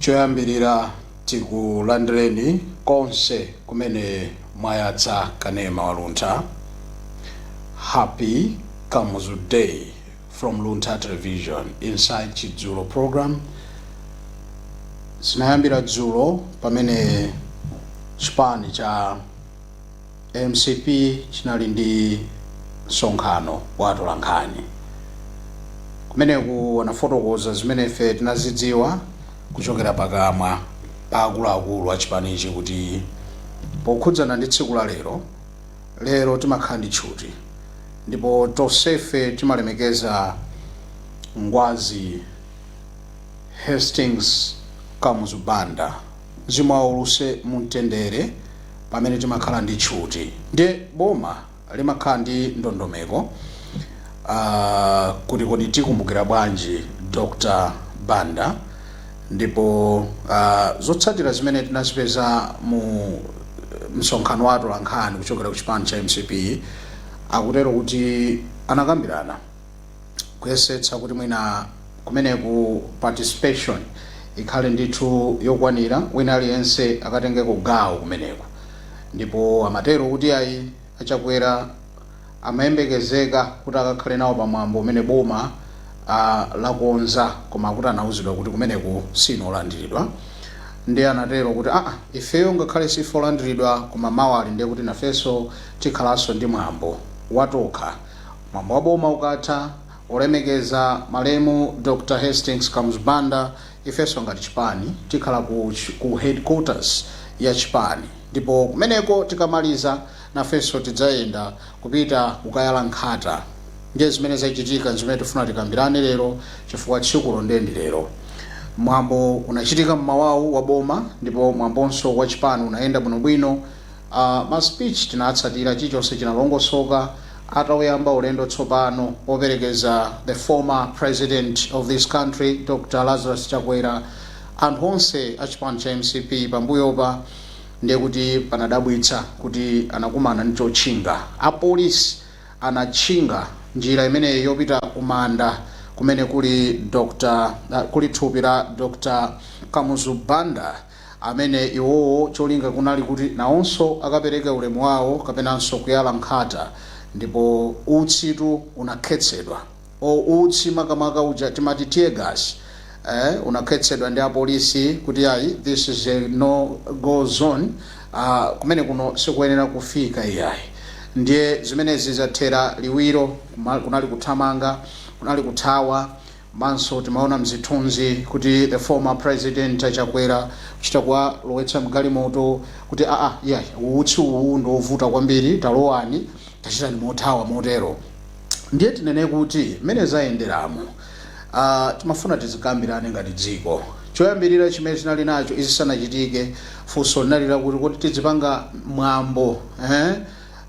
choyambirira tikulandireni konse kumene mwayatsa kanema waluntha happy kamuzu day from Luntha Television. Inside Chidzulo program. Zinayambira dzulo pamene chipani cha mcp chinali ndi msonkhano wa atolankhani kumeneku anafotokoza zimene ife tinazidziwa kuchokera pakamwa pa akuluakulu a chipanichi kuti pokhudzana ndi tsiku la lero Lero timakhala ndi tchuti ndipo tonsefe timalemekeza Ngwazi Hastings Kamuzu Banda. Mzimu wawo uwuse mu mtendere pamene timakhala ndi tchuti. Ndiye boma limakhala ndi ndondomeko uh kuti kodi tikumbukira bwanji Dr Banda. ndipo uh, zotsatira zimene tinazipeza mu msonkhano wa atolankhani kuchokera ku chipani cha mcp akutero kuti anakambirana kuyesetsa kuti mwina kumeneku participation ikhale ndithu yokwanira wina aliyense akatengeko gawo kumeneku ndipo amatero kuti ayi a Chakwera amayembekezeka kuti akakhale nawo pa mwambo umene boma lakonza koma kuti anauzidwa kuti kumeneku siinu olandiridwa ndiye anatero kuti aa ifeyo ngakhale siife olandiridwa koma mawali ndiye kuti nafenso tikhalanso ndi mwambo watokha mwambo wa boma ukatha olemekeza malemu Dr Hastings Kamuzu Banda ifenso ngati chipani tikhala ku, ku headquarters ya chipani ndipo kumeneko tikamaliza nafenso tidzayenda kupita kukayala nkhata ndiye zimene zachitika nzimene tifuna tikambirane lero chifukwa tsikulo ndiye ndi lero mwambo unachitika mmawawu wa boma ndipo mwambonso wa chipani unayenda bwinobwino ma speech tinatsatira chichonse chinalongosoka atauyamba ulendo tsopano operekeza the former president of this country Dr Lazarus Chakwera anthu onse a chipani cha mcp pambuyopa Ndiye kuti panadabwitsa kuti anakumana ndi chotchinga. Apolisi anatchinga njira imeneyi yopita kumanda kumene kuli Dr. kuli thupi la Dr. Kamuzu Banda amene iwowo cholinga kunali kuti nawonso akapereke ulemu wawo kapenanso kuyala nkhata ndipo utsitu unakhetsedwa. or utsi makamaka uja timati tear gas eh, unakhetsedwa ndi apolisi kuti ayi this is a no go zone uh, kumene kuno sikuyenera kufika iyayi ndiye zimenezi zathera liwiro kuma- kunali kuthamanga kunali kuthawa manso timaona mzithunzi kuti the former president chakwera kuchita kuwalowetsa mgalimoto kuti aa iyayi utsi uwu ndi wovuta kwambiri talowani tachitanani mothawa motero Ndiye tinene kuti mmene zayenderamu, a, timafuna tizikambirane ngati dziko. Choyambirira chimene tinali nacho izi zisanachitike, funso linali lakuti kodi tidzipanga mwambo, eh,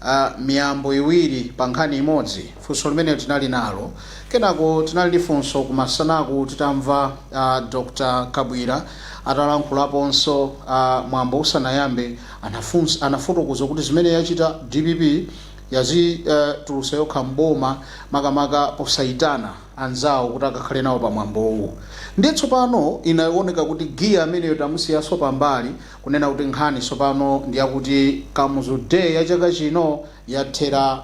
a, miyambo iwiri pa nkhani imodzi? Funso limenelo tinali nalo. Kenako tinali ndi funso kumasana'ku titamva, a, Dr. Kabwira atalankhulaponso, a, mwambo usanayambe, anafunsa, anafotokoza kuti zimene yachita dpp, yazitulutsa yokha m'boma makamaka posaitana anzawo kuti akakhale nawo pa mwambowu ndiye tsopano inaoneka kuti giya ameneyo tamusiyaso pambali kunena kuti nkhani tsopano ndiyakuti Kamuzu Day ya chaka chino yathera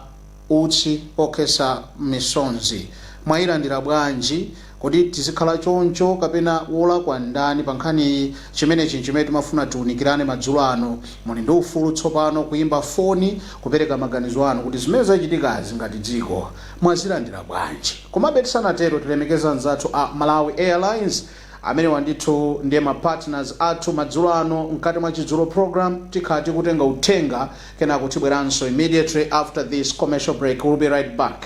utsi okhetsa misonzi. Mwailandira bwanji? Kodi tizikhala choncho kapena wolakwa ndani pa nkhaniyi? Chimenechi n'chimene timafuna tiunikirane madzulo ano. Muli ndi ufulu tsopano kuimba foni kupereka maganizo anu kuti zimene zachitikazi ngati dziko mwazilandira bwanji? Komabe tisanatero tilemekeze anzathu a Malawi Airlines. Amenewa ndithu ndiye ma partners athu madzulo ano mkati mwa Chidzulo Program. Tikhala tikutenga uthenga kenako tibweranso immediately after this commercial break. We'll be right back.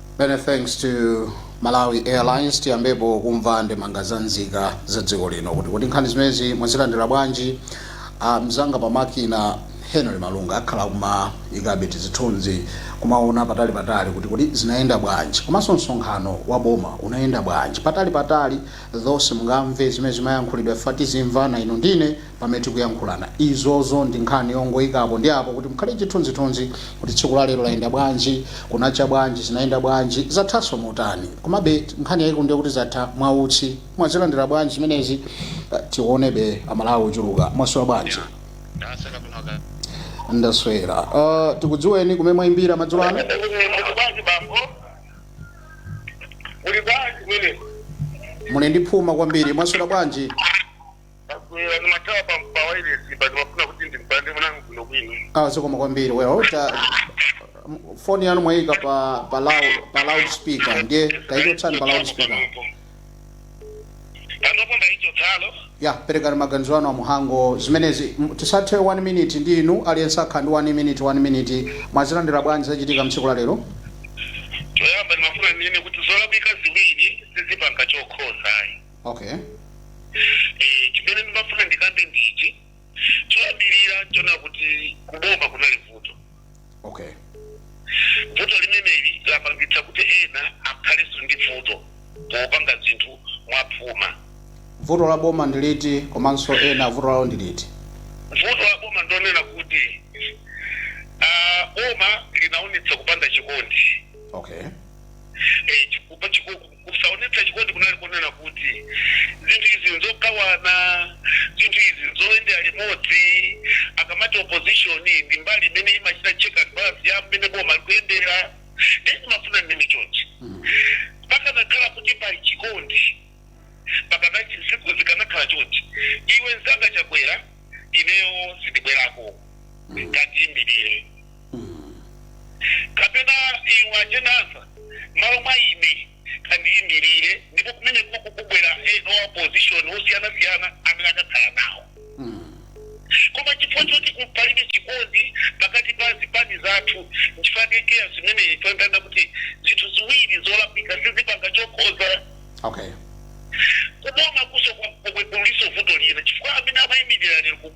many thanks to malawi airlines tiyambepo kumva ndemanga za nzika za dziko lino kuti kodi nkhani zimenezi mwazilandira bwanji ah, mzanga pa makina henry malunga akhala kumaikabe tizithunzi kumaona patali patali kuti kodi zinayenda bwanji komanso msonkhano wa boma unayenda bwanji patali patali olo simungamve zimene zimayankhulidwa fatsani tizimvana inu ndi ine pamene tikuyankhulana. Izozo ndi nkhani yongoyika apo ndi apo kuti mukhale chithunzithunzi kuti tsiku la lero layenda bwanji, kunacha bwanji, zinayenda bwanji, zathanso motani. Komabe nkhani yayikulu ndiye kuti zatha mwa utsi. Mwazilandira bwanji zimenezi? Tiwonebe a Malawi ochuluka. Mwaswera bwanji? Ndaswera. Uh, tikudziweni kumene mwayimbira madzulo ano? Muli ndi phuma kwambiri. Mwaswera bwanji? Ndabwera ndimathawa pa pa wireless pa ndimafuna kuti ndimpande mwanangu kuno kwino. Ah, zikomo kwambiri. Well, ta m- phone yanu mwayika pa pa loud pa loudspeaker ndiye tayichotsani pa loudspeaker. Panopo ndaichotsalo. Ya, perekani maganizo anu a muhango zimenezi M- tisathe 1 minute ndi inu aliyense akhala ndi 1 minute 1 minute mwazilandira bwanji zachitika mtsiku la lero? Choyamba ndimafuna ndinene kuti zolakwika ziwiri sizipanga chokhonza ayi. okay Eh, chimene ndimafuna ndikambe ndi ichi choyambirira nchona kuti kuboma kunali vuto okay vuto limeneli lapangitsa kuti ena akhalenso ndi vuto popanga zinthu mwaphuma vuto la boma ndi liti komanso ena vuto lawo ndi liti vuto la boma ndonena kuti ah, boma linaonetsa kupanda chikondi okay Eh, chiku chiku Kusaonetsa chikondi kunali kunena kuti, Zinthu izi nzogawana. Zinthu izi nzoyendera limodzi. Akamati opposition ndi mbali imene imachita check and balance ya mmene boma likuyendera. Ndiye ndimafuna ndinene chonchi, pakanakhala kuti pali chikondi, pakana zinthu zikanakhala chonchi, iwe nzanga Chakwera ineyo sindibwerako. Kandiyimirire. kapena iwe ajenasa malo mwa ine kandiyimirire ndipo kumeneko kukubwera ena wa opposition osiyanasiyana amene akakhala nawo koma chifukwa choti ku- palibe chikondi pakati pa zipani zathu nchifukwa chimene tayamba kuti zinthu ziwiri zolakwika sizipanga chokhonza okay kuboma kuso kuliso vuto lina chifukwa amene amayimirira lero ku-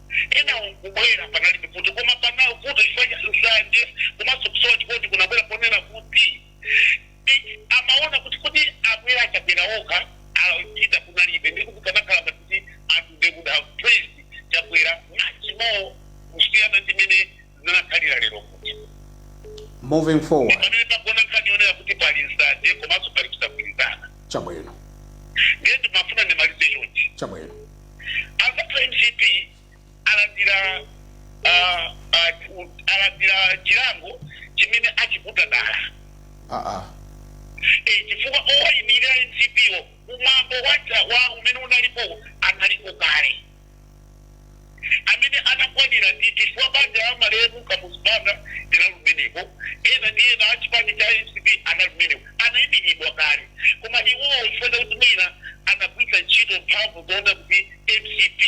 enawo nkubwera panalibe vuto koma pano vuto chifukwa cha nsanje komanso kusowa chikondi kunabwera ponena kuti eh, amaona kuti kuti abwera achakwera okha APita kunalibe ndipo kukanakhala ngati kuti anthu they would have praised chakwera much more kusiyana ndi mene zinakhalira lero kuti moving forward pamene pagona nkhani yonena kuti pali nsanje komanso pali kusagwirizana chabwino ndiye ndimafuna ndimalize chonchi chabwino azathu mcp alandira ah, ah, u- alandira chilango chimene achiputa dala aa Eh, chifukwa owayimirira a mcp wo umambo wacha wa umene unalipo analiko kale amene anakwanira ndi chifukwa banja la malemu Kamuzu Banda linali kumeneko ena ndi ena a chipani cha mcp anali kumeneko anaimiridwa kale koma iwowo chifukwa chakuti mwina anagwiritsa ntchito mphamvu zoona kuti mcp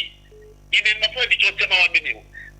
ine ndimafuna ndichotse mawu amenewo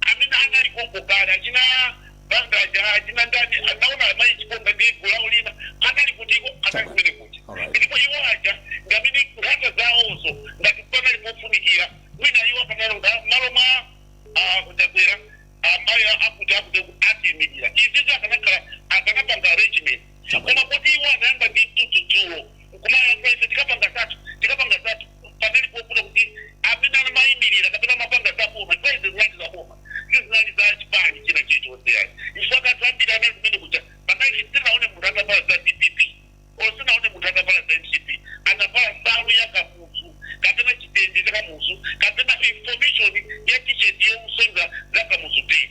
amene anali konko kale achina bangaja achina ndani analiko amayi chikonga ndi gulu lawo lina anali kutiko anali kumene kuti ndipo iwo aja ndi amene nkhata zawozo ngati panali pofunikira mwina iwo akanalonga malo mwa ah, kutabwera amayi akuti akuti akatiimirira izizo akanakhala akanapanga arrangement koma kuti iwo anayamba ndi mtudzu dzulo nkumayankhula ife tikapanga zathu tikapanga zathu panali pofuna kuti amene anamayimirira kapena amapanga za boma ndipo izi zinali za boma sizinali za chipani china chilichonse yayi chifukwa anthu ambiri anali kumene kuja panali sinaone munthu atavala za dpp or sinaone munthu atavala za mcp anavala nsalu ya kamuzu kapena chitende cha kamuzu kapena information ya t-shirt yosonyeza za kamuzu day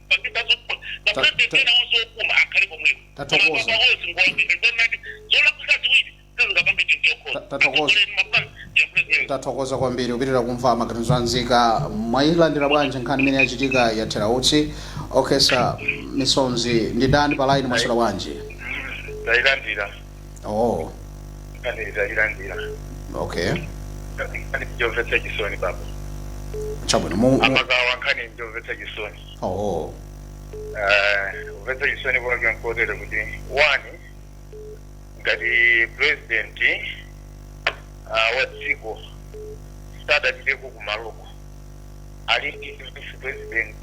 tathokoza kwambiri kupitira kumva maganizo anzika mwayilandira bwanji nkhani imene yachitika yathera utsi okhesa misonzi ndi dani pa line mwaswera bwanji tayilandira nkhani ndayilandira okay nkhani njomvetsa chisoni baba chabwino mu, mu amagawa nkhani njomvetsa chisoni oh Eh, kumvetsa chisoni kwake nkotere kuti one ngati president ah, wa dziko sadapiteko kumaloko ali ndi vice president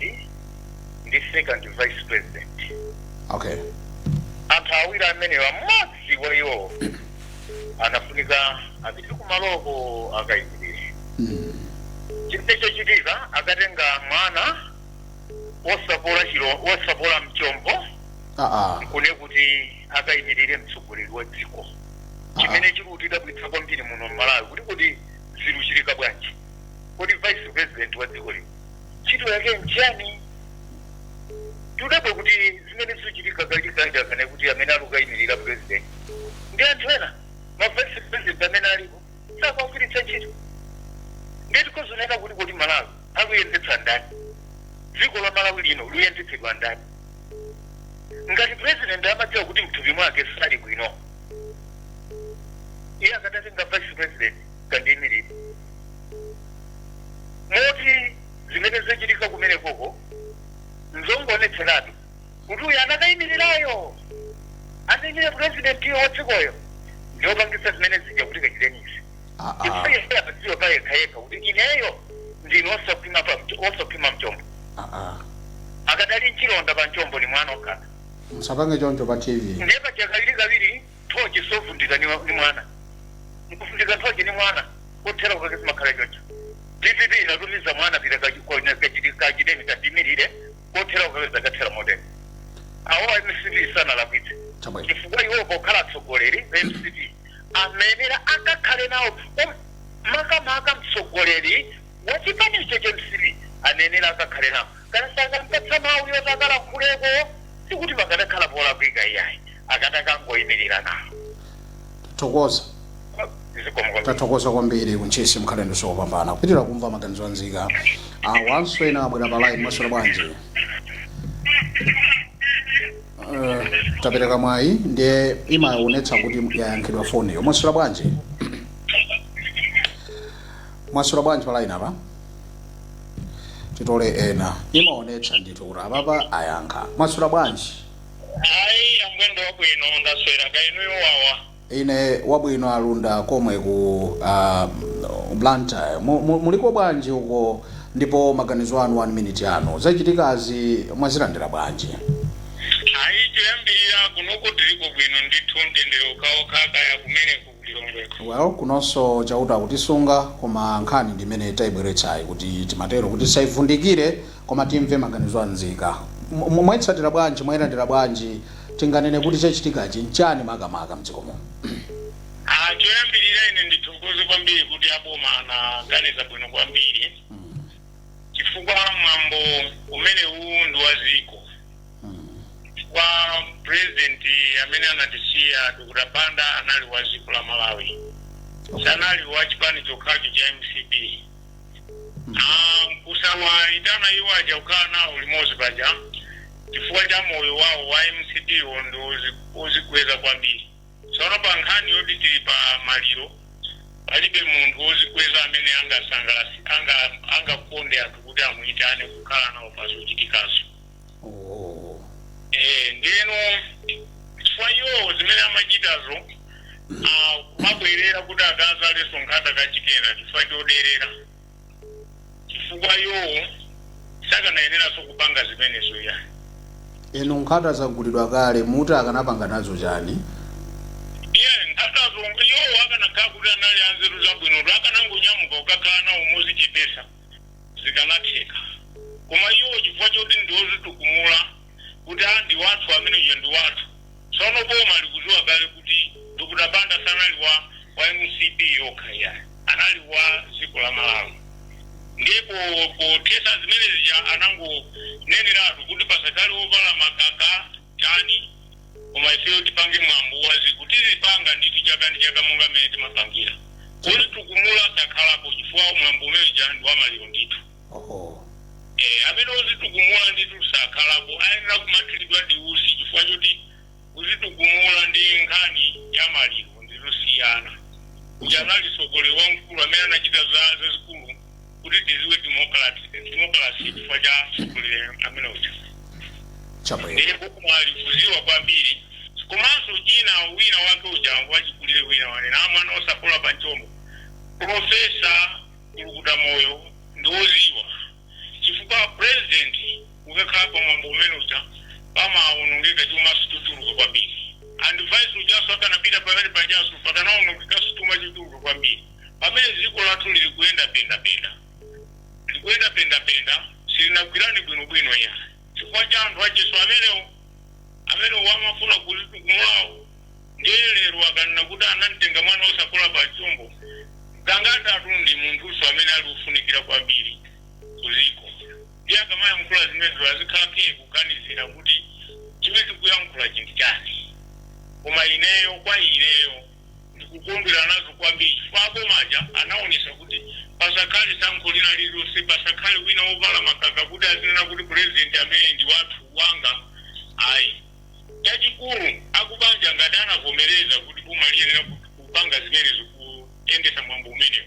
ndi second vice president okay anthu awiri amenewa mmodzi wa iwowo anafunika apite kumaloko akayimirire chimene chikuchitika akatenga mwana wosapola chilo wosapola mchombo ah ah kune kuti akayimirire mtsogoleri wa dziko chimene chiri kutidabwitsa kwambiri muno mmalawi kuti kuti ziluchitika bwanji kodi vice president wa dziko lino ntchito yake nchani tudabwa kuti zimene zikuchitika kachikanja kana kuti amene ali kukayimirira president ndi anthu ena ma vice president amene alipo sakuwagwiritsa ntchito ndiye tikuzunzika kuti kodi malawi aluyendetsa ndani dziko la malawi lino luyendetsedwa ndani ngati president amadziwa kuti mthupi mwake sali bwino iye akadatenga vice president kandiimirire moti zimene zachitika kumene koko nzongoonetseratu kuti uyu anakayimirirayo anaimira purezidentiyo wa dzikoyo ndiopangisa zimene zija kuti kachiteni izi Ah, ah. iye amadziwa pa yekha yekha kuti ineyo ndine osakhwima pa mch- osakhwima mchombo Ah, ah. akadali mchilonda pa mchombo ni mwana okhala musapange choncho pa tv ndiye paja kawirikawiri nthochi savundika ni, ni mwana mkuvundika nthochi ni mwana kothera kukake zimakhala choncho dpp inatumiza mwana pita kachiteni kandiimirire kothera kukake zikathera motero awo a mcp sanalakwitse Chabwino. chifukwa iwo pokhala atsogoleri a mcp anayenera akakhale nawo um- makamaka mtsogoleri wa chipanicho cha mcp anayenera akakhale nawo Ngati sakampatsa mau yoti akalankhuleko sikuti pakadakhala polakwika iyayi. Akadakangoimilira nawo. Tathokoza. Zikomo kwambiri. Tathokoza kwambiri ku Ntchisi mukhale ndi usiku opambana. Kupitira kumva maganizo a nzika. Awanso ena abwera pa line mwaswera bwanji. Eh, tapereka mwayi ndiye imaonetsa kuti yayankhidwa foniyo. Mwaswera bwanji. Mwaswera bwanji pa line apa. titole ena imaonetsa ndithu kuti apapa ayankha mwaswera bwanji ayi amwene ndi wabwino ndaswera kaya inuyo wawa ine wabwino alunda komwe ku uh, blantyre Mu- mu- muliko bwanji uko ndipo maganizo anu 1 minute anu zachitikazi mwazilandira bwanji ayi choyambirira kunoku tiliko bwino ndithu mtendere okhaokha kaya kumene Lilongwe. Well kunonso chauta akutisunga koma nkhani ndi imene taibweretsayi kuti timatero kuti tisaivundikire koma timve maganizo a nzika. Mwaitsatira bwanji? Mwailandira bwanji? Tinganene kuti chachitikachi nchani makamaka mdziko muno? Aaa choyambirira ine ndithokoze kwambiri kuti aboma anaganiza bwino kwambiri chifukwa mwambo umenewu ndi wa dziko. chifukwa president amene anatisiya dr banda anali wa dziko la malawi sanali wa chipani chokhacho cha mcp Ah, kusawayitana iwo aja kukhala nawo limodzi paja chifukwa cha moyo wawo wa mcp wo ndi ozi- ozikweza kwambiri tsono pa nkhani yoti tili pa maliro palibe munthu wozikweza amene angasangalatse anga angakonde anthu kuti amuyitane kukhala nawo pa zochitikazo oh. eh, ndiyeno chifukwa iwowo zimene amachitazo kumabwerera kuti akazaalenso nkhata kachiwiri kena chifukwa choderera chifukwa iwowo sakanayeneranso kupanga zimenezo ya inu nkhata zagulidwa kale muti akanapanga nazo chani iye nkhatazo iwowo akanakhala kuti anali anzeru zabwinotu akanangonyamuka kukakhala nawo mozichepesa zikanatheka. Koma iwo chifukwa choti ndi ozitukumula kuti aah ndi wathu amene uja ndi wathu. Tsono boma likuziwa kale kuti Dr Banda sanali wa wa mcp yokha iyayi. Anali wa dziko la Malawi. Ndiye po pothetsa zimene zija anangoneneratu kuti pasakhale ovala makaka. chani koma ifeyo tipange mwambo wa ziko tizipanga ndithu chaka ndi chaka monga mmene timapangira ozitukumula sakhalapo chifukwa mwambo umene uja ndi wamaliro ndithu oho Eh, amene ozitukumula ndithu sakhalapo ayenera kumathiridwa ndi usi chifukwa choti kuzitukumula ndi nkhani ya maliro ndizosiyana uja anali sogolero wamkulu amene anachita zazikulu kuti tiziwe democracy chifukwa cha tsogoleri amene uja chabwino ndiye boma likuziwa kwambiri komanso china wina wake uja wachikulire wina wanena mwana osapola pa mchombo profesa kulukuta moyo ndi woziwa chifukwa president ukakhala pa mwambo umene uja pamaonongeka chuma chochuluka kwambiri and vice ujaso akanapita pamene pajaso pakanaonongeka chuma chochuluka kwambiri pamene dziko lathu liri kuyenda pendapenda, likuyenda pendapenda, silinagwirane bwinobwino yayi, chifukwa cha anthu acheso amenewo, amenewo amafuna kuzitukumulawo. Ndiye lero akanena kuti anamtenga mwana wosapola pa mchombo, Gangatatu ndi munthunso amene ali wofunikira kwambiri ku dziko. Ndiye akamayankhula zimenezo azikhala phee kuganizira kuti chimene tikuyankhulachi ndi chani. Koma ineyo, kwa ineyo. ndikukondwera nazo kwambiri chifukwa aboma aja anaonesa kuti pasakhale sankho lina lililonse, pasakhale wina wovala makaka kuti azinena kuti president ameneyu ndi wathu, wanga ayi. Chachikulu akubanja ngati anavomereza kuti boma liyenera kupanga zimenezo kuyendesa mwambo umenewu.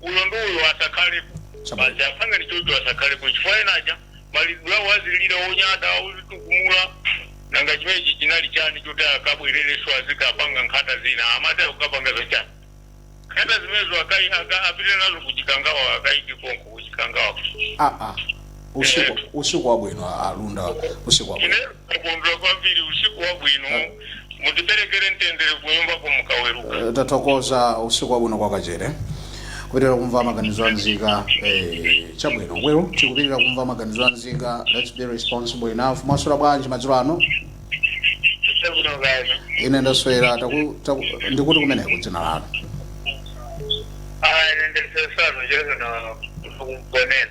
uyo ndi uyo asakhalepo Chabwino. basi apangani chocho asakhalepo chifukwa enaja maliro awo azilira onyada ozitukumula nanga chimenechi chinali chani choti akabwerereso azikapanga nkhata zina amati akukapanga zochani nkhata zimenezo akai- aka- apite nazo ku Chikangawa akaike konko ku Chikangawa aa usiku usiku wabwino a- a Lunda usiku wabwino ine ndakondwera kwambiri usiku wabwino mutiperekere mtendere kunyumba mukaweruka Eh, tathokoza usiku wabwino kwa Kachere kupitira kumva maganizo anzika eh, chabwino well tikupitira kumva maganizo anzika let's be responsible enough mwaswera bwanji madzulo ano chabwino kani ine ndaswera taku- taku- ndikuti kumeneko dzina lanu ine ndisesano chezana kugonena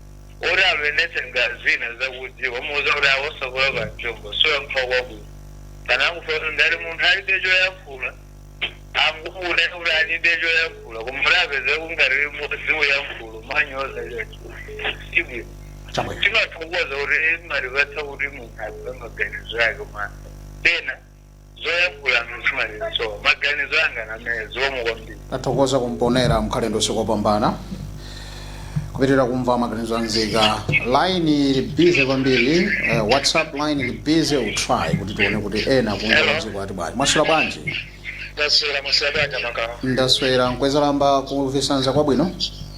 oti apenetse ngati zina zakudziwa kumuuza kuti awosapola pa mchombo si kuyankha kwabwino kana akufuna ngati munthu alibe choyankhula angonena kuti alibe choyankhula koma kuti apeze kungati limodzi kuyankhula monyoza choncho sibwino chabwino timathokoza kuti mumatipatsa kuti munthu alibe maganizo ake koma pena zoyankhula ndizimaliziro maganizo anga ndamenewo zikomo kwambiri tathokoza kumponera mkhale ndosikopambana kupitira kumva maganizo anzika line ili busy kwambiri uh, whatsapp line ili busy we'll try kuti tione kuti ena kunja kwadziko ati bwanji mwaswera bwanji ndaswera afumu amakawa ndaswera nkwezalamba kuvisanza kwabwino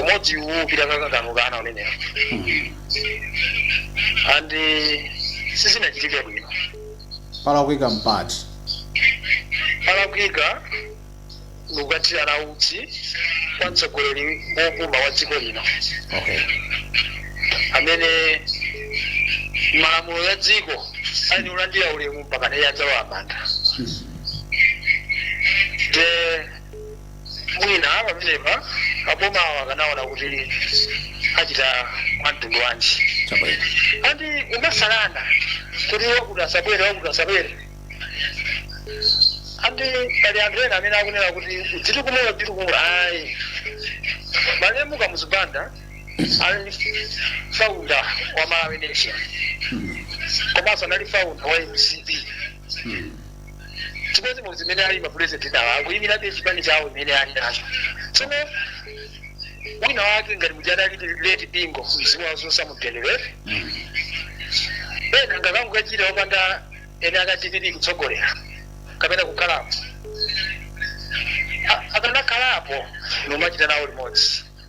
umodzi uwu upita kakakanuka ana unene ndi sizinachitike bwino palakwika mpati palakwika ndikukathirana utsi kwa mtsogoleri wopuma wa dziko lino okay amene malamulo ya dziko ali olandira ulemu mpaka naye adzalowa m'manda the mwina pamenepa abomawo akanaona kuti achita mwamtundu wanji chabwino and osamasalana kuti wakuti asabwere wakuti asabwere and pali anthu ena amene akunena kuti kudzitukumula kudzitukumula ayi malemu Kamuzu Banda anali faunda wa malawi nation komanso anali faunda wa mcp chimodzimodzi mmene ali mapulezidenti awo akuyimirabe chipani chawo chimene ali nacho tsono wina wake ngati muja adali leti bingo mzimu wawo uwuse mumtendere ena akanangokachita opanda ene akadipiti kutsogolera kapena kukhalapo A- akanakhalapo nkumachita nawo limodzi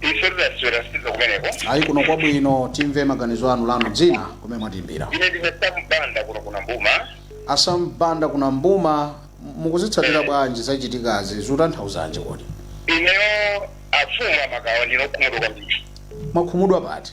ife tidaswera sitiza kumeneko ayi kuno kwabwino timve maganizo anu lanu dzina kumene mwatimbira ine ndine Sambanda kuno ku Nambuma a Sambanda ku Nambuma mukuzitsatira bwanji zachitikazi zikutanthauzanji kodi ineyo afumu amakawa ndine okhumudwa kwambiri mwakhumudwa pati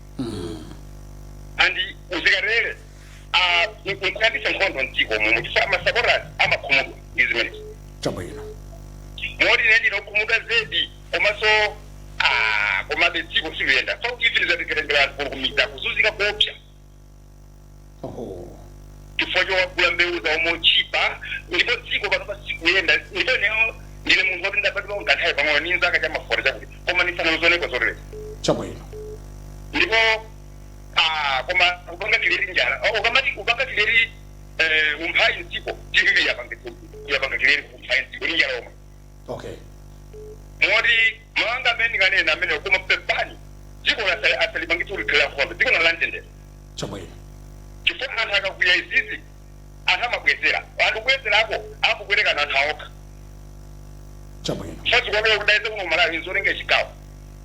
and zimenezi ah, nk- nkuyambisa nkhondo mdziko muno chifukwa masupporters amakhumudwa ndi zimenezi chabwino moti ine ndine okhumudwa zedi komanso ah, komabe dziko silikuyenda so even zatekerengera anthu kulukumiza kuzunzika kuopsa Oho. chifukwa chowagulira mbewu zawo motchipa ndipo dziko panopa sikuyenda ndipo ineyo ndine munthu woti ndabadwa kanthawi pang'ono ndili ndi zaka cha ma forty chakuti koma sindinazioneko zoterezi Chabwino. ndipo ah, koma kupanga create njala Oh, ukamati kupanga create eh, umphawi mdziko tv yapanga yapanga create umphawi mdziko ndi njala omwe okay moti mawu anga amene ndinganene amenewo koma pepani dziko lasa- asalipangitse kuti likhale lankhondo dziko ndi lamtendere chabwino chifukwa anthu akakwiya izizi anthu amabwezera anthu kubwezerako akupwetekana anthu aokha chabwino chifukwa chikuonera kuti ayese kuno malawi nzolenga chigawo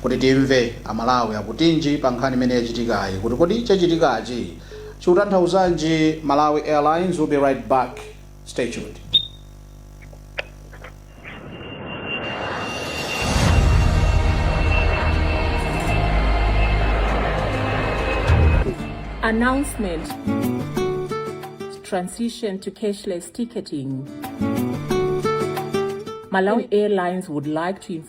Kuti timve a Malawi akutinji pa nkhani imene yachitikayi kuti kodi chachitikachi chikutanthauzanji Malawi Airlines will be right back stay tuned. Announcement Transition to cashless ticketing. Malawi Airlines would like to inform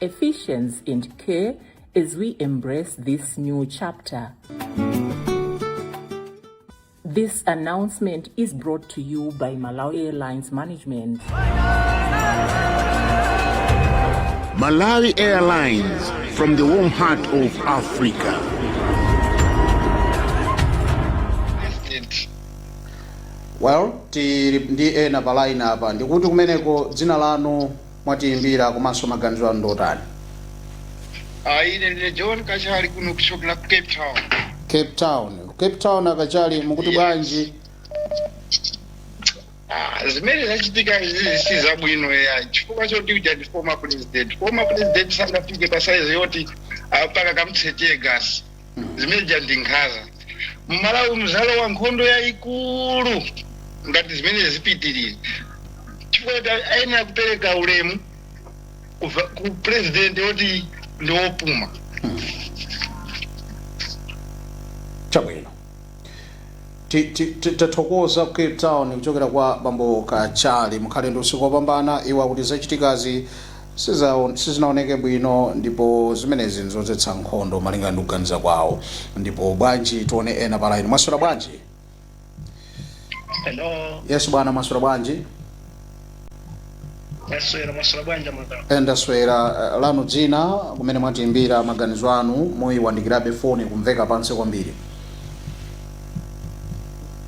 Ephesians and K as we embrace this new chapter. This announcement is brought to you by Malawi Airlines Management. Malawi Airlines from the warm heart of Africa. well tili ndi ena pa line apa ndikuti kumeneko dzina lanu mwatiimbira komanso maganizo anu ndi otani Ah, ine ndine john kachali kuno kuchokera ku cape town cape town cape town akachali mukuti Yes. bwanji Ah, zimene zachitika izizi si zabwino ayi chifukwa choti uja ndi former president former president sangafike pa saizi yoti ah, mpaka kumuchita teargas zimeja ndi nkhaza mmalawi mudzalowa nkhondo yayikulu ngati zimene zipitirire chifukwa kuti ayenera kupereka ulemu ku va- ku president woti ndi wopuma chabwino Ti- ti- ti- tathokoza ku cape town kuchokera kwa bambo kachali mukhale ndi usiku wopambana iwo akuti zachitikazi sizinaoneke bwino ndipo zimenezi nzodzetsa nkhondo malinga ndi kuganiza kwawo ndipo bwanji tione ena pa line mwaswera bwanji Hello, yes bwana mwaswera bwanji mwaswera mwaswera bwanji madam. ndaswera eh, lanu dzina kumene mwatiimbira maganizo anu muyiwandikirabe foni ikumveka pansi kwambiri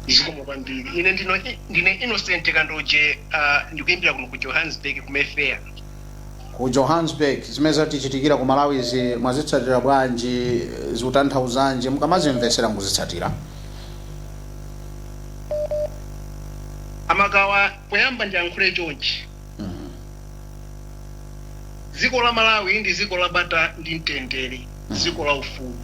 zikomo kwambiri ine ndino ndine innocent kandoje uh, ndikuimbira kuno ku johannesburg ku mayfair ku johannesburg zimene zatichitikira ku malawi izi mwazitsatira bwanji zikutanthauzanji mukamazimvetsera mukuzitsatira a Makawa poyamba ndiyankhule chonchi dziko la malawi ndi dziko la bata ndi mtendere dziko la ufulu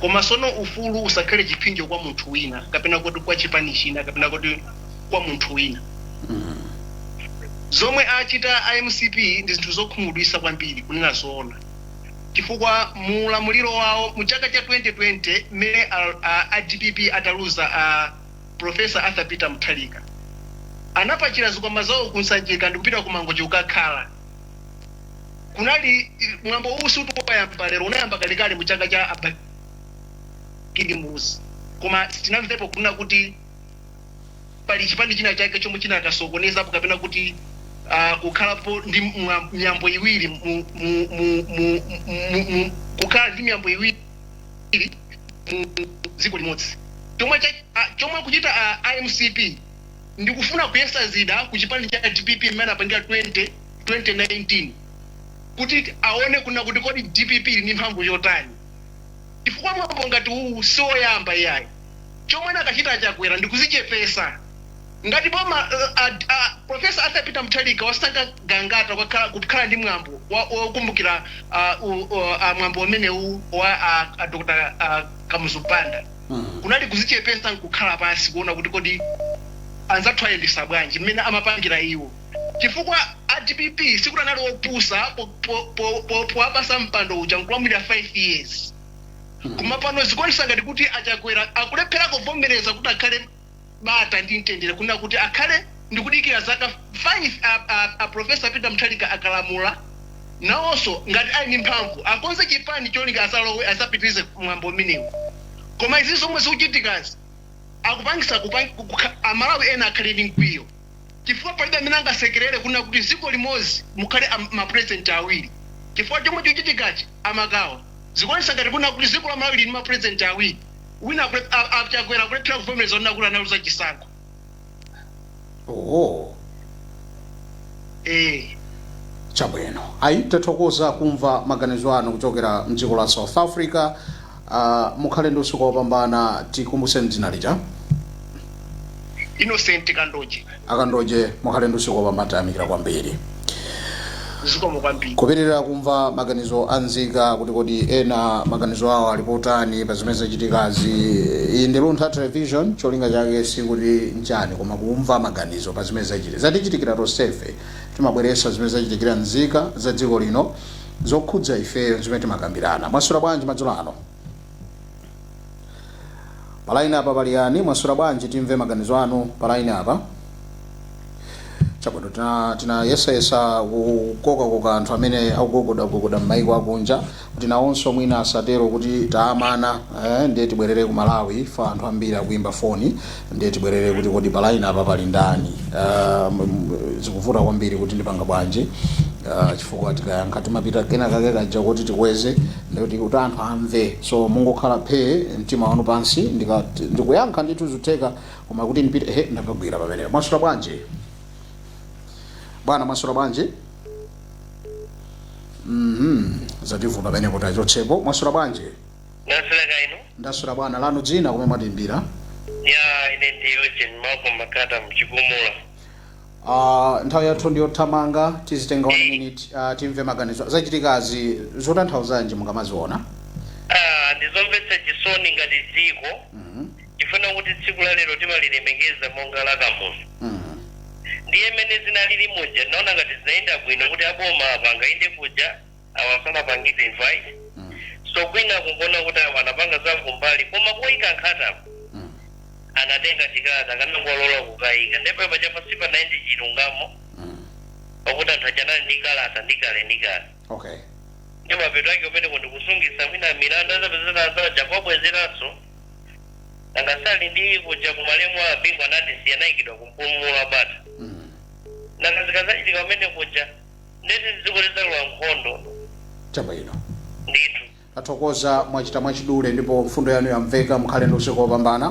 koma sono ufulu usakhale chipsinjo kwa munthu wina kapena kuti kwa chipani china kapena kuti kwa munthu wina zomwe achita a mcp ndi zinthu zokhumudwitsa kwambiri kunena zoona chifukwa mu ulamuliro wawo mu chaka cha 2020 mmene a- a- a dpp ataluza a Prof. Arthur Peter Mutharika anapakira zikwama zawo ku Sanjika ndikupita ku Mangochi kukakhala. Kunali mwambo uwu siuti wayamba lero unayamba kalekale mu chaka cha a Bakili Muluzi koma sitinamvepo kunena kuti pali chipani china chake chomwe chinakasokonezapo kapena kuti ah, kukhalapo ndi mwa- miyambo iwiri mu- mu- mu- mu- mu- mu- kukhala ndi miyambo iwiri awiri mu dziko limodzi chomwe cha- a- chomwe akuchita a- a mcp ndikufuna kuyesa zida ku chipani cha dpp mmene anapangira 20 2019 kuti aone kuna kuti kodi dpp ili ndi mphamvu yotani chifukwa mwambo ngati uwu si woyamba iyayi chomwe anakachita a chakwera ndikuzichepesa Ngati boma la a Professor Arthur Peter Mutharika wasankha Gangata kukha kukhala ndi mwambo wa wokumbukira a u o a mwambo umenewu wa a a Dr a Kamuzu Banda kunali kuzichepesa nkukhala pansi kuona kuti kodi anzathu ayendesa bwanji mmene amapangira iwo chifukwa a dpp sikuti anali opusa po po po po powapasa mpando uja nkulamulira 5 years koma pano zikuonetsa ngati kuti a Chakwera akulephera kuvomereza kuti akhale bata ndi mtendere kunena kuti akhale ndikudikira zaka 5 a, a, a profesa peter muthalika akalamula nawonso ngati ali ndi mphamvu akonze chipani cholinga azalowe azapitirize mwambo umenewu koma izi zomwe zikuchitikazi akupangisa kupang, kukha- amalawi ena akhale ndi mkwiyo chifukwa palibe amene angasekerere kunena kuti dziko limodzi mukhale am- mapurezidenti awiri chifukwa chomwe chikuchitikachi amakawa zikuonetsa ngati kunena kuti dziko la malawi lili ndi mapurezidenti awiri Wina akulep a a Chakwera akulephera kuvomereza kunena kuti analuza chisankho. Oho. Eeh. Chabwino. Ayi tathokoza kumva maganizo anu kuchokera mdziko la South Africa. Uh, mukhale ndi usiku wopambana tikumbuseni dzina lija. Innocent Kandoje. Akandoje mukhale ndi usiku wopambana tayamikira kwambiri zikomo kwambiri. Kupitirira kumva maganizo a nzika kuti kodi ena maganizo awo ali potani pa zimene zachitikazi. Iyi ndi Luntha Television cholinga chake sikuti nchani koma kumva maganizo pa zimene zachitika. Zatichitikira tonsefe timabweretsa zimene zachitikira nzika za dziko lino zokhudza ifeyo nzimene timakambirana. Mwaswera bwanji madzulo ano? pa line apa pali yani mwaswera bwanji timve maganizo anu pa line apa chabwino tina- tinayesayesa kukokakoka anthu amene akugogodagogoda m'maiko akunja kuti nawonso mwina asatero kuti taamana eh, ndiye tibwerere ku malawi fa anthu ambiri akuimba foni ndiye tibwerere kuti kodi palaini apa pali ndani uh, zikuvuta kwambiri kuti ndipanga bwanji uh, chifukwa tikayankha timapita kena kake kaja kuti tikweze ndikuti kuti anthu amve so mungokhala phee mtima wanu pansi ndika- ndikuyankha ndithu zutheka koma kuti ndipite he ndapagwira pamenepo mwaswera bwanji bwana mwaswera bwanji mhm zativuta pamenepo tachotsepo mwaswera bwanji Ndaswera kaya inu? ndaswera bwino lanu dzina komwe mwatiimbira Ya ine ndi Eugene Malcolm Makata m'Chigumula. uh, nthawi yathu ndiyothamanga tizitenga one minute uh, timve maganizo zachitikazi zotanthauzanji mukamaziona Ah, ndizomvetsa chisoni ngati dziko Mhm, tifuna kuti tsiku la lero timalilemekeza monga la kamuzu mhm, ndiye mmene zinalili muja naona ngati sizinayende bwino kuti aboma apanga inde kuja awa sanapangidwe invite Mm. so kwina kungoona kuti awa anapanga za kumbali koma kuyika nkhatapo Mm. anatenga chikalata akanangolola kukayika ndipo paja pansi sipanayende chilungamo Mm. pakuti anthu achanali ndi kalata ndi kale ndi kale okay ndi mapeto ake kumene kuti kusungitsa mwina milandu azapezeka zaja kwabwezeranso angasali ndi kuja kumalemu a bingu anatisiya anayikidwa ku Mpumulo wa Bata Mm. nakazikazachitika kumene kuja ndiye kuti dziko lidzalowa nkhondo chabwino ndithu tathokoza mwachita mwachidule ndipo mfundo yanu yamveka mukhale ndi usiku wopambana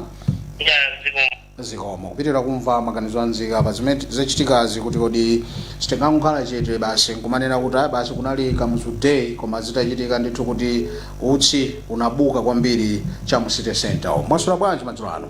ya dziko zikomo kupitiriza kumva maganizo a nzika pa zimene zachitikazi kuti kodi sitingangokhala chete basi nkumanena kuti ayi basi kunali kamuzu day koma zitachitika ndithu kuti utsi unabuka kwambiri cha mu city center mwaswera bwanji madzulo ano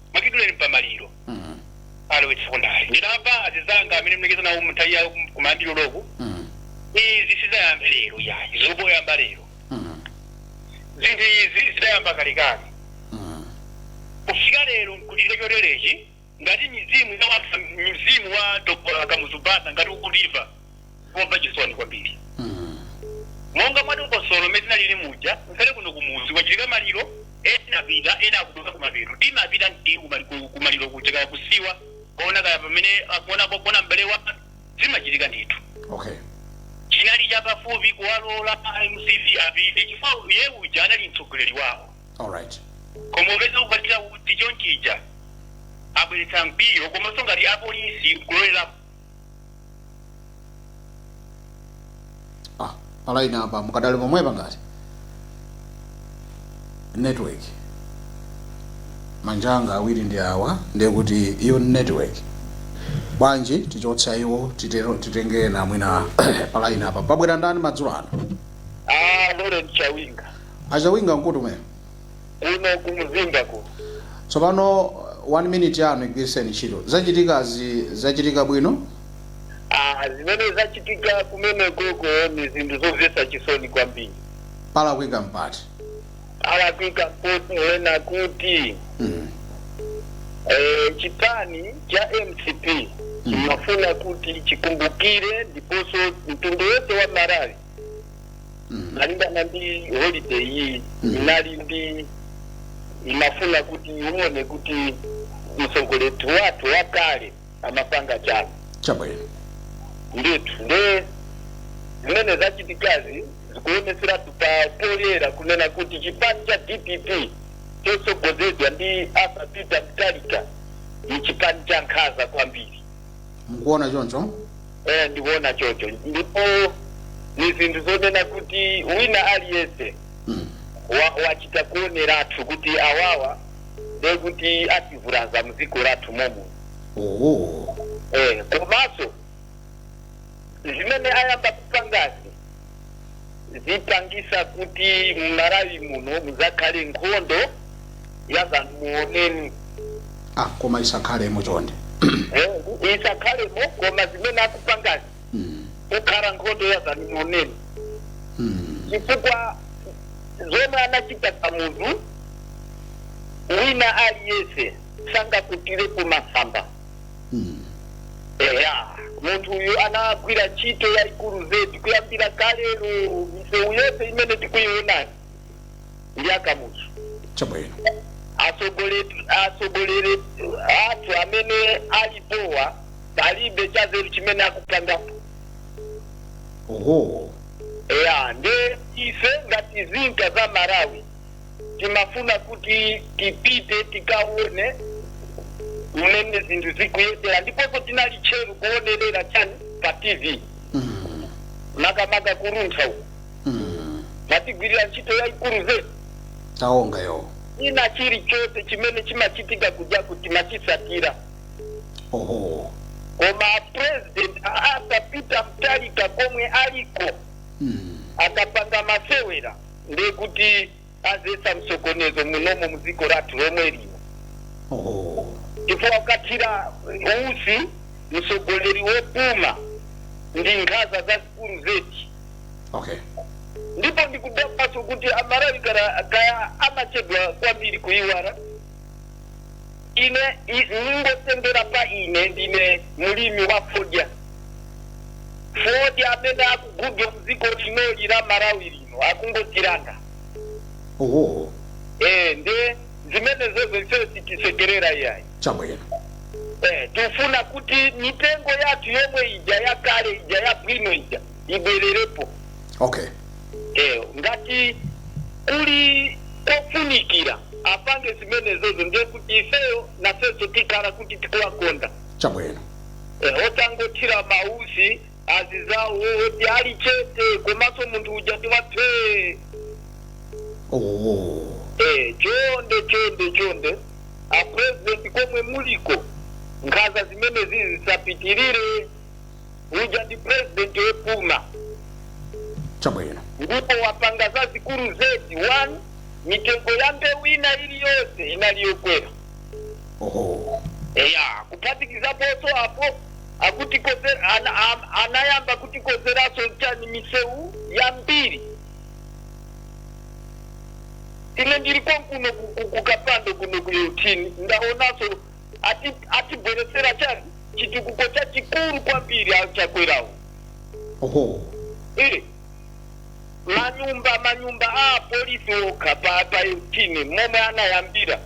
mwachidule ndi pa maliro Mm. alowetsako ndale ndinamva azinzanga amene alekeza nawo mnthawi yawo kum- kumaliro loku Mm. izi sizinayambe lero yayi zikungoyamba lero Mm. zinthu izi zidayamba kalekale Mm. kufika lero nkuchita choterechi ngati mizimu ya wanthu- mzimu wa dr kamuzu banda ngati ukuliva kumva chisoni kwambiri monga mwa dongosolo limene zinalili muja ngakhale kuno kumuzi kwachitika maliro ena apita ena akupita kumapeto timapita ndi kumali- ku- kumaliro kuja kaya kusiwa kuona kaya pamene akuona kuona m'bale wa zimachitika ndithu okay chinali chapafupi kuwalola mcp apite chifukwa iye uja anali mtsogoleri wawo all right koma upeza kupatira kuti chonchija abweretsa mkwiyo komanso ngati apolisi kulolera ah palaini apa mukadali pomwepa ngati network manja anga awiri ndi awa ndiye kuti iyo ni network bwanji tichotsa iwo titero titenge ena mwina palaini apa pabwera ndani madzulo ano Ah, Lawrence Chawinga. achawinga nkuti kumene kuno ku mzimba kuno tsopano one minute yanu igwiritseni ntchito zachitikazi zachitika bwino Ah, zimene zachitika kumene koko ni zinthu zomvetsa chisoni kwambiri palakwika mpati palakwika mponena kuti mm. eh, chipani cha mcp Mm. chimafuna kuti chikumbukire ndiponso mtundu wonse wa malawi malingana ndi holiday iyi inali ndi imafuna kuti uone kuti mtsogoleri wathu wakale amapanga chani chabwino ndithu nde zimene zachitikazi zikuoneseratu pa poyera kunena kuti chipani cha dpp chotsogozedwa ndi Arthur Peter Mutharika ni chipani cha nkhaza kwambiri mukuona choncho eh, ndikuona chocho ndipo ni zinthu zonena kuti wina aliyense mm. wa- wachita kuoneratu kuti awawa nde kuti ativulaza mdziko lathu momo oh. eh, komanso zimene ayamba kupangazi zipangisa kuti m'Malawi muno muzakhale nkhondo ya zamuoneni ah koma isakhalemo chonde Eh, isakhalemo koma zimene akupangazi Mm, kukhala nkhondo ya zamuoneni mm, chifukwa zomwe anachita Kamuzu wina aliyense sangakutire kumasamba eya munthu uyu anagwira ntchito yayikulu zedi kuyambira kalelo misewu yonse imene tikuyiwonayi ndi a Kamuzu chabwino atsogoleri atsogoleri athu amene alipowa palibe chazeru chimene akupangapo oho eya nde ife ngati nzika za Malawi timafuna kuti tipite tikaone mmene zinthu zikuyendera ndiponso tinali tcheru kuonerera chani pa tv Mm. makamaka ku Luntha uko Mm. mumatigwirira ntchito yayikulu zedi timayang'ana china chilichonse chimene chimachitika kujaku timachitsatira oho koma president Arthur Peter Mutharika komwe aliko Mm. akapanga masewera ndiye kuti adzetsa msokonezo munomo mdziko lathu lomwe lino oh. chifukwa kumuthira utsi msogoleri wopuma ndi nkhaza zazikulu zedi okay. ndipo ndikudabwaso kuti Amalawi kaya amachedwa kwambiri kuiwala ine ndingosendera pa ine ndine mlimi wa fodya fodya amene akugulidwa mdziko linoli la malawi lino akungotilanga oho e, nde zimenezozo ifeyo sitisekerera iyayi chabwino Eh, tifuna kuti mitengo yathu yomwe ija yakale ija yabwino ija ibwererepo okay eh ngati kuli kofunikira apange zimenezozo ndiye kuti ifeyo nafenso tikhala kuti tikuwakonda chabwino Eh, osangothira mausi azizawo oti ali chete komanso munthu uja ndi wa phee oh. Eh, chonde chonde chonde a president komwe muliko nkhaza zimenezi zisapitirire uja ndi president wopuma chabwino ndipo wapanga zazikulu zedi one mitengo ya mbewu ina iliyonse inali yokwera oho eya kuphatikizaponso apo akutikozera ana, am- anayamba kutikozeraso chani misewu yambiri ine ndiri konkuno ku- ku- kukapando kuno ku 18 ndaonaso ati atibweretsera chani chitukuko chachikulu kwambiri achakwerawo oho Eh, manyumba manyumba a apolisi okha pa pa 18 momwe anayambira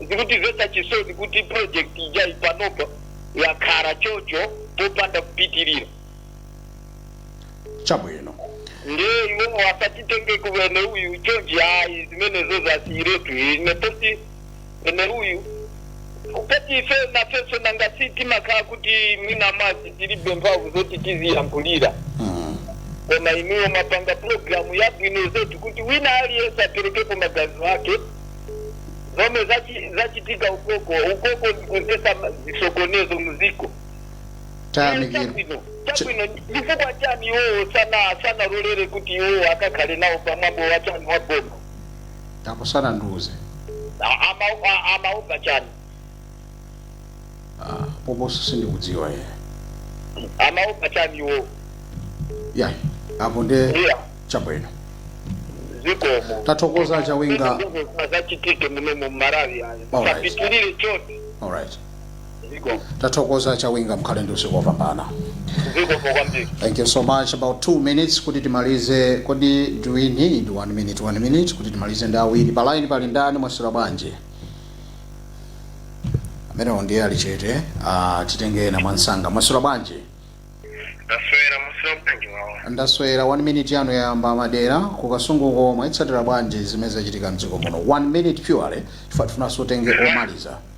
zikutimvesa chisoni kuti project ija ipanopa yakhala chocho popanda kupitirira chabwino nde iwowo asatitenge kuwene uyu chonchi ayi zimenezozo asiyiretu ine posi memeruyu poti ife nafenso nanga si timakhala kuti mwina mwazi tilibe mphamvu zoti tiziyankhulira koma inuyo mwapanga pulogalamu yabwino zedi kuti wina aliyense aperekepo maganizo ake zomwe zachi- zachitika ukoko ukoko ndikudzesa zisokonezo muziko tayamikira chabwino chabwino chifukwa chani iwowo sana sanalolere kuti iwowo akakhale nawo pamwambo wachani wa boma apo sanandiuze A- ama- a- amaopa chani Ah, poposo sindikudziwa ye amaopa chani iwo ya apo nde iya chabwino zikomo tathokoza chawinga zisachitike muno mu Malawi ayi Alright. sapitirire choti alright zikomo tathokoza chawinga mukhale ndi usiku wopambana zikomo kwambiri thank you so much about two minutes kuti timalize kodi do we need one minute one minute kuti timalize ndi awiri pa line pali ndani mwaswera bwanji amenewo ndiye ali chete ah, titenge ena mwansanga mwaswera bwanji ndaswera musira kutangi wawo ndaswera one minute yanu yayamba madera ku Kasunguko mwazitsatira bwanji zimene zachitika mdziko muno one minute purely chifukwa tifunanso tenge omaliza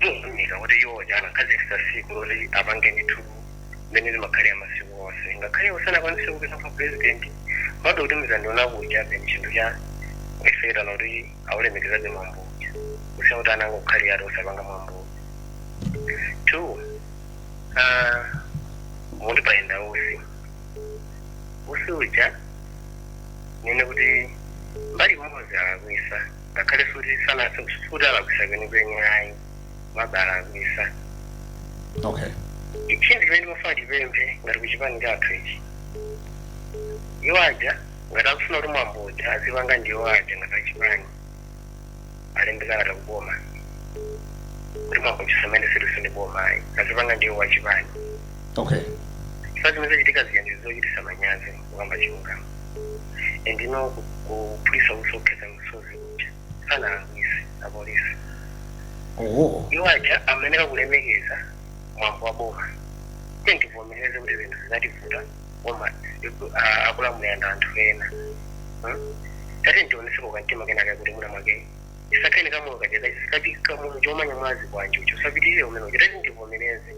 mukuunika kuti iwo aja anakhazikitsa siku loti apange ndithu mmene zimakhalira masiku onse ngakhale iwo sanakwanise kupita kwa president bado kuti mzandiona kuja peni chinthu cha kuiseketana kuti aulemekezabe mwambo uja kusiya kuti anangokhala ngati osapanga mwambo two ah, muti payenda usi usi uja ndinene kuti mbali imodzi alakwisa ngakhale futi sanathe kufuti alakwisa kwenikweni ayi komabe alakwisa okay chinthu chimene timafuna tipemphe ngati kuchipani chathu ichi iwo aja ngati akufuna kuti mwambo uja azipanga ndi iwo aja ngati achipani alembe kalata kuboma kuti mwambo uja samene siliso ndi boma ayi azipanga ndi iwo achipani okay chifukwa zimene zachitika zija ndi zochitisa manyazi kukamba chilungamo endino kuphulisa usi okhetsa misozi kuja sanalakwise apolisi oho iwo aja amayeneka kulemekeza mwambo wa boma tiyeni tivomereze kuti zinthu zinativuta koma ah, akulamulira ndi anthu ena Hmm? tatiyeni tioneseko kamtima kenaka kuti mwina mwake tisakhale kamoyo kacheza sikati kamoyo chomanya mwazi kwanjucho sapitirire umene uja tatiyeni tivomereze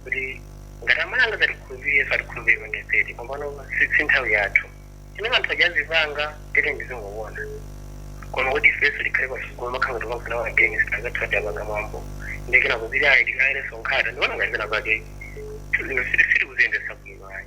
kuti ngati amalawi angazatikhulupirireso atikhulupirire pandifeti pompano si si nthawi yathu zimene anthu aja azipanga tatiyeni tizingoona koma kuti ifeyoso tikhale pasukulu makhala ngati kwamfuna against anzathu ati apanga mwambo ndikena kuti ayi tikaikeso nkhata ndikuona ngati pena pake sitikuziendesa bwino ayi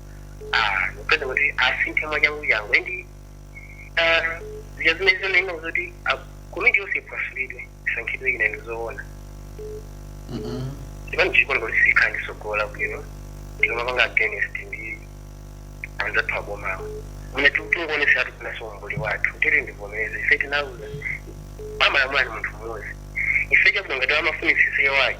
kupeza kuti asinthe mwachanguchangu endi zija zimene zonena zoti komiti yonse iphwasulidwe isankhidwe ina ndi zoona ndipo ndikuona kuti sitikhala ndi sogolo labwino tikamapanga against ndi anzathu abomawo mune tikungoonesa ati kunaso umbuli wathu tiyeni tivomereze ife tinaluza amalamula ndi munthu mmodzi ife chabwino ngati amafunisisa iye wake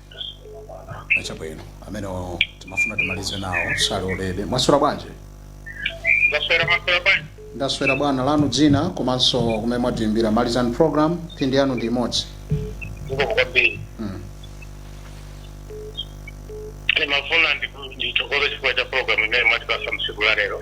achabwino amene timafuna timalize nawo salolede mwaswera bwanji ndaswera mwaswera bwanji ndaswera bwana lanu dzina komanso kumene mwatiimbira malizani program mphindi yanu ndi imodzi zikomo kwambiri Mm. ndimafuna ndithokoze chifukwa cha programu imene mwatipasa msiku la lero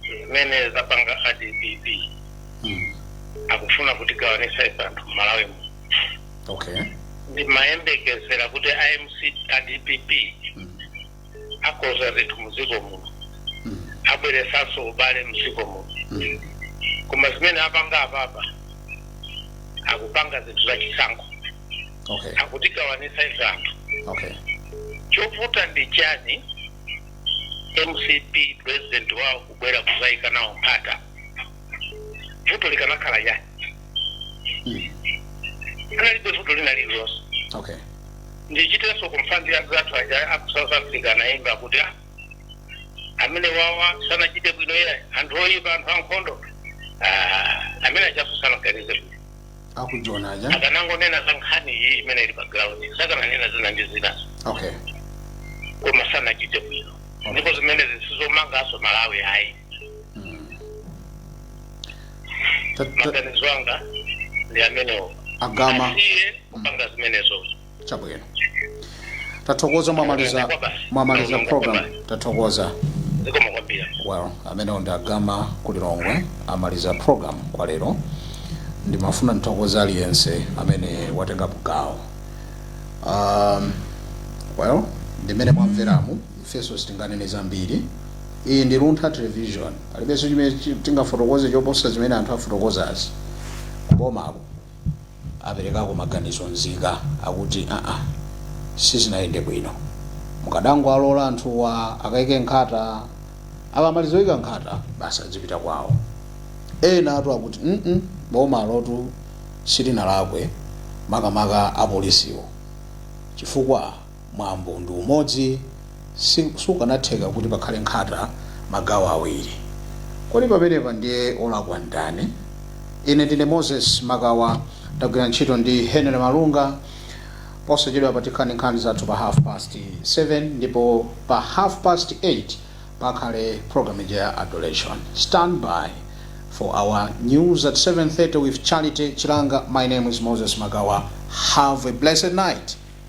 zimene zapanga a dpp mm. akufuna kutigawanisa ife anthu mmalawi muno okay ndimayembekezera kuti a mc a dpp mm. akonza zinthu muziko muno mm. abweresanso ubale muziko muno mm. koma zimene apanga apapa akupanga zinthu za chisankho okay akutigawanisa ife anthu okay chovuta ndi chani mcp president wawo kubwera kuzaika nawo nkhata vuto likanakhala chani analibe vuto lina lililonse okay ndichitenso confirm za anzathu aja aku south africa anayimba kuti "Ah, amene awa sanachite bwino ayi anthu oyipa anthu ankhondo Ah, amene achaso sanaganize bwino akujona aja akanangonena za nkhani iyi imene ili pa ground sakananena zina ndi zinazo okay koma sanachite bwino ndipo zimenezi si zomangaso malawi ayi Ta- ta- maganizo anga ndi amenewo agama asiye kupanga zimenezozo chabwino tathokoza mwamaliza mwamaliza program tathokoza zikomo kwambiri well ameneyu ndi a Gama ku Lilongwe amaliza program kwa lero ndimafuna ndithokoze aliyense amene watengapo gawo um, well ndimene mwamveramu ifenso sitinganene zambiri iyi ndi luntha television palibenso chimene chi- tingafotokoze choposa zimene anthu afotokozazi kubomako aperekako maganizo nzika akuti aa sizinayende bwino mukadangowalola anthuwa akaike nkhata akamaliza kuika nkhata basi adzipita kwawo enatu akuti mm bomalotu silinalakwe makamaka apolisiwo chifukwa mwambo ndi umodzi si sukanatheka kuti pakhale nkhata magawo awiri kodi pamenepa ndiye olakwa ndani ine ndine moses makawa ndagwira ntchito ndi henry malunga posachedwa patikhala nkhani zathu pa half past 7 ndipo pa half past 8 pakhale program ija ya adoration stand by for our news at 7:30 with charity chilanga my name is moses makawa have a blessed night